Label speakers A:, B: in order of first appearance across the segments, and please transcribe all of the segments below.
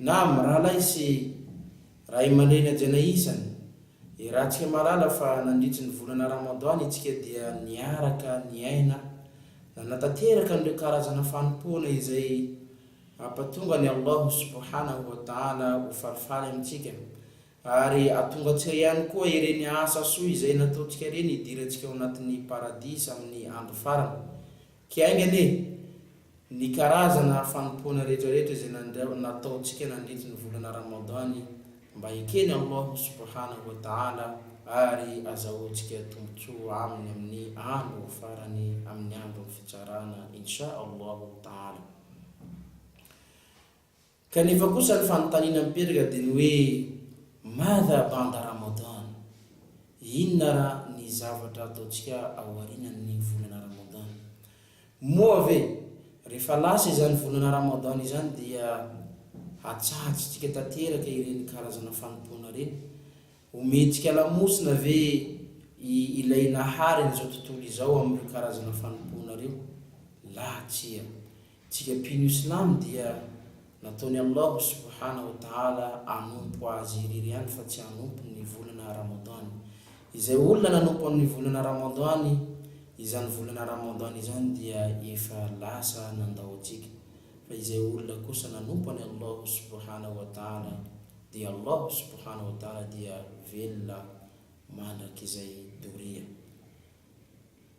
A: Na amin'ny rahalahy sy ray aman-dreny hajaina isany. I Ratsika mahalala fa nandritry ny volana Ramadan isika dia niaraka niaina nanatanteraka an'ireo karazana fanompoana izay hampatonga an'i Allah subhanahu wa ta'ala ho falifaly amintsika ary atongantsika ihany koa ireny asa soa izay nataontsika ireny hidirantsika ao anatin'ny Paradisa amin'ny Andro Farany Kay aingana e! Ny karazana fanompoana retraretra izay nataontsika nandritry ny volana Ramadan mba eken'i Allah Subhanahu wa Ta'ala ary azahoantsika tombotsoa aminy amin'ny andro farany amin'ny andron'ny fitsarana Insha Allahu Ta'ala. Kanefa kosa ny fanontaniana mipetraka dia ny hoe Madha Banda Ramadan, inona ara ny zavatra ataontsika ao arinan'ny volana Ramadan? Moa ve rehefa lasa izany volana Ramadan izany dia hatsahajintsika tanteraka ireny karazana fanompoana ireny? Omentsika lamosina ve i Ilay Nahary an'izao tontolo izao amin'ireo karazana fanompoana ireo? Laha tsia, Tsika mpino silamo dia nataon'i Allah subhana wa ta'ala hanompo Azy irery ihany fa tsy hanompo ny volana Ramadan. Izay olona nanompo amin'ny volana Ramadan izany volana Ramadan izany dia efa lasa nandao tsika. Fa izay olona kosa nanompo an'i Allah subhana wa ta'ala dia Allah subhana wa ta'ala dia velona mandrakizay doria.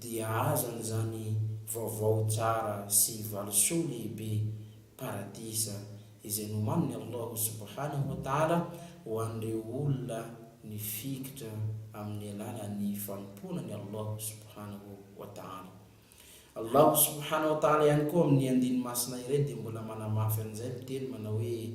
A: dia aza an'izany vaovao tsara sy valisoa lehibe, paradisa, izay nomanin'i Allahu subhanahu wa ta'ala ho an'ireo olona nifikitra amin'ny alalan'ny fanompoana an'i Allahu subhanahu wa ta'ala. Allahu subhanahu wa ta'ala ihany koa amin'ny andiny masina iray dia mbola manamafy an'izay miteny manao hoe,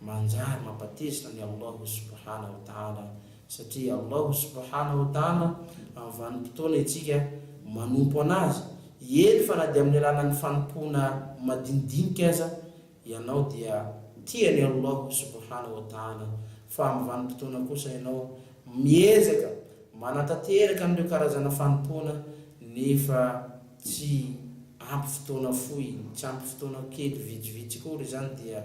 A: Manjary mampatezitra an'i Allahu subhana wa ta'ala satria i Allahu subhana wa ta'ala amin'ny vanim-potoana itsika manompo an'Azy, eny fa na dia amin'ny alalan'ny fanompoana madinidinika aza ianao dia tia an'i Allahu subhana wa ta'ala, fa amin'ny vanim-potoana kosa ianao miezaka manatanteraka an'ireo karazana fanompoana nefa tsy ampy fotoana fohy, tsy ampy fotoana kely vitsivitsy akory izany dia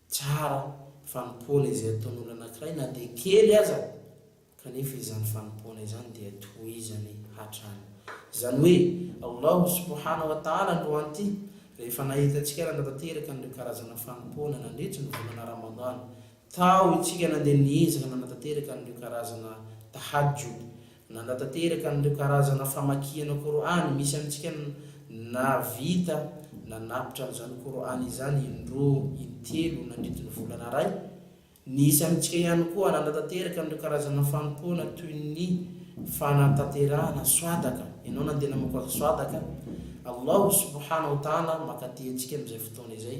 A: Tsara ny fanompoana izay ataon'olona anankiray na dia kely aza, kanefa izany fanompoana izany dia tohizany hatrany. Izany hoe, Allahu subhana wa ta'ala androan'ity, rehefa nahita antsika nanatanteraka an'ireo karazana fanompoana nandritry ny volana Ramadhan, tao isika nandeha niezaka nanatanteraka an'ireo karazana tahajjud, Nanatanteraka an'ireo karazana famakiana Kor'any misy amintsika nahavita nanapitra an'izany Kor'any izany indroa, intelo nandritra ny volana iray. Nisy amintsika ihany koa nanatanteraka an'ireo karazana fanompoana toy ny fanatanterahana swadaka, ianao nandeha namoaka swadaka, Allahu subhanahu wa ta'ala maka tia antsika amin'izay fotoana izay,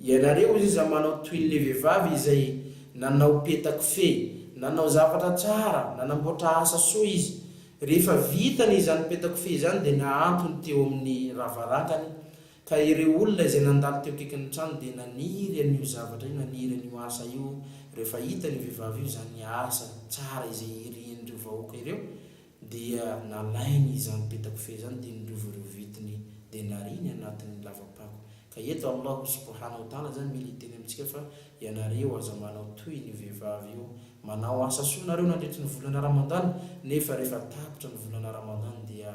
A: Ianareo iza manao toy le vevavy izay nanao peta kofehy, nanao zavatra tsara, nanamboatra asa soa izy, rehefa vitany izany peta kofehy izany dia nahantony teo amin'ny ravarangany, ka ireo olona izay nandalo teo akaikin'ny trano dia naniry an'io zavatra io, naniry an'io asa io, rehefa hitan'io vevavy io izany asa tsara izay irian'ireo vahoaka ireo, Dia nalainy izany peta-kofehy izany dia nirovo ireo vintiny dia nariany anatin'ny lava-pako. Ka eto Allahu subhana wa ta'ala zany mila hiteny amintsika fa ianareo aza manao toy an'io vehivavy io, manao asa soa nareo nandritry ny volana Ramadan nefa rehefa tapitra ny volana Ramadan dia